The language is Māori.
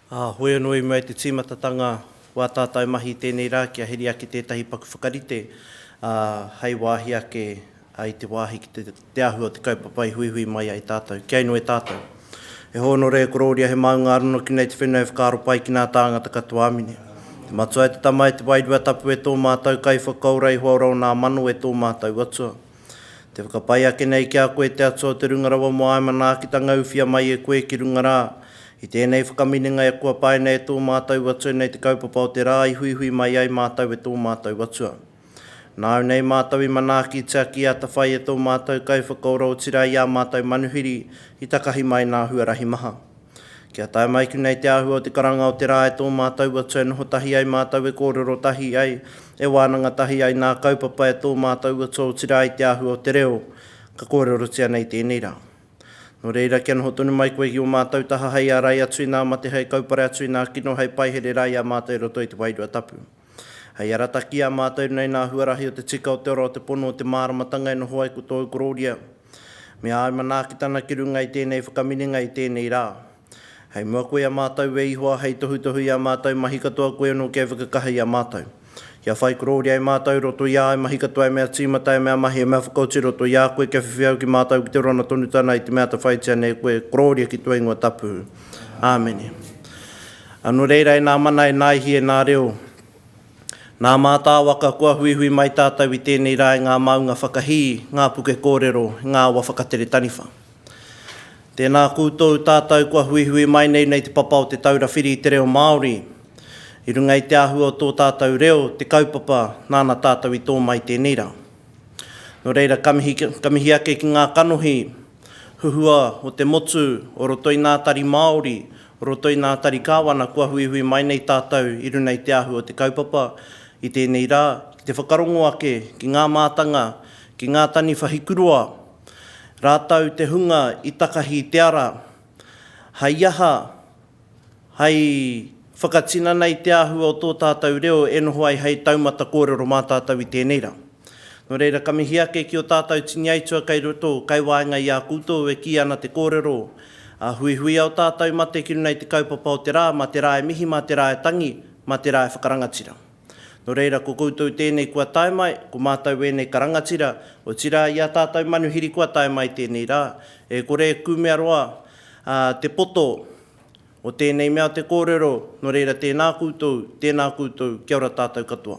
Ā, hoi anō i mua i te tīmatatanga o ā tātou mahi i tēnei rā kia heri ake tētahi paku whakarite, ā, hei wāhi ake i te wāhi ki te te ahu o te kaupapa i huihui mai ai tātou, kia inoi tātou. He hōnore, he korōria, he māunga arono ki nei te whenua e whakaaro pai ki nā tāngata katoa amine. Te Matua e te Tama e te Wairua Tapu e tō mātou Kaiwhakaora i hoaora o nā mano e tō mātou Atua. Te whakapai ake nei ki a koe te Atua o te Runga Rawa mō āe manaakitanga uwhia mai e koe ki runga rā, i tēnei whakaminenga e kua paina e tō mātou Atua nei te kaupapa o te rā i huihui mai ai mātou e tō mātou Atua. Nāu nei mātou i manaaki te aki atawhai e tō mātou Kaiwhakaora otirā i ā mātou manuhiri i takahi mai nā huarahi maha. Kia tae mai ki nei te āhua o te karanga o te rā e tō mātou atu e noho tahi ai mātou e kōrero tahi ai e wānanga tahi ai nā kaupapa e tō mātou atu otirā i te āhua o te reo ka kōrerotia nei tēnei rā. Nō reira kia noho tonu mai koe ki ō mātou taha hei ārai atu i nā mate hei kaupare atu i nā kino hei paihere rā i a mātou i roto i te Wairua Tapu. Hei arata ki a mātou nei nā huarahi o te tika o te ora o te pono o te māramatanga e noho ai ko tōu korōria, me āu manaakitanga ki runga i tēnei whakaminenga i tēnei rā. Hei mua koe a mātou e Ihoa hei tohutohu i ā mātou mahi katoa koe anō kia whakakaha i a mātou. Kia whai korōria e mātou i roto i āu mahi katoa e mea tīmata, e mea mahi, e mea whakaoti i roto i a koe kia whiwhi au ki mātou ki te rona tonutana i te mea atawhaitia nei koe korōria ki tua ingoa tapu. Āmene. Anō reira e nā mana, e nā ihi, e nā reo, nā mātāwaka kua huihui mai tātou i tēnei rā i ngā māunga whakahī, ngā puke kōrero, i ngā awa whakatere taniwha. Tēnā koutou tātou kua huihui mai nei nei Te Papa o Te Taura Whiri i te Reo Māori i runga i te āhua o tō tātou reo, te kaupapa nāna tātou i tō mai tēnei rā. Nō reira ka mihi, ka mihi ake ki ngā kanohi Huhua o te motu o roto i ngā tari Māori, o roto i ngā tari Kāwana kua huihui mai nei tātou i runa i te ahu o te kaupapa i tēnei rā ki te whakarongo ake ki ngā mātanga, ki ngā taniwhahi kuroa, rātou te hunga i takahi te ara. Hai aha? hai whakatinana i te āhua o tō tātou reo e noho ai hai taumata kōrero mā tātou i tēnei rā. Nō reira, ka mihi ake ki ō tātou tini aitua kei roto, kei waenga i a koutou e kī ana te kōrero, ā, huihuia o tātou mate ki runga i te kaupapa o te rā, mā te rā e mihi, mā te rā e tangi, mā te rā e whakarangatira. Nō reira, ko koutou tēnei kua tae mai, ko mātou ēnei ka rangatira, otirā i a tātou manuhiri kua tae mai tēnei rā, e kore e kumea roa te poto o tēnei mea o te kōrero, nō reira tēnā koutou, tēnā koutou, kia ora tātou katoa.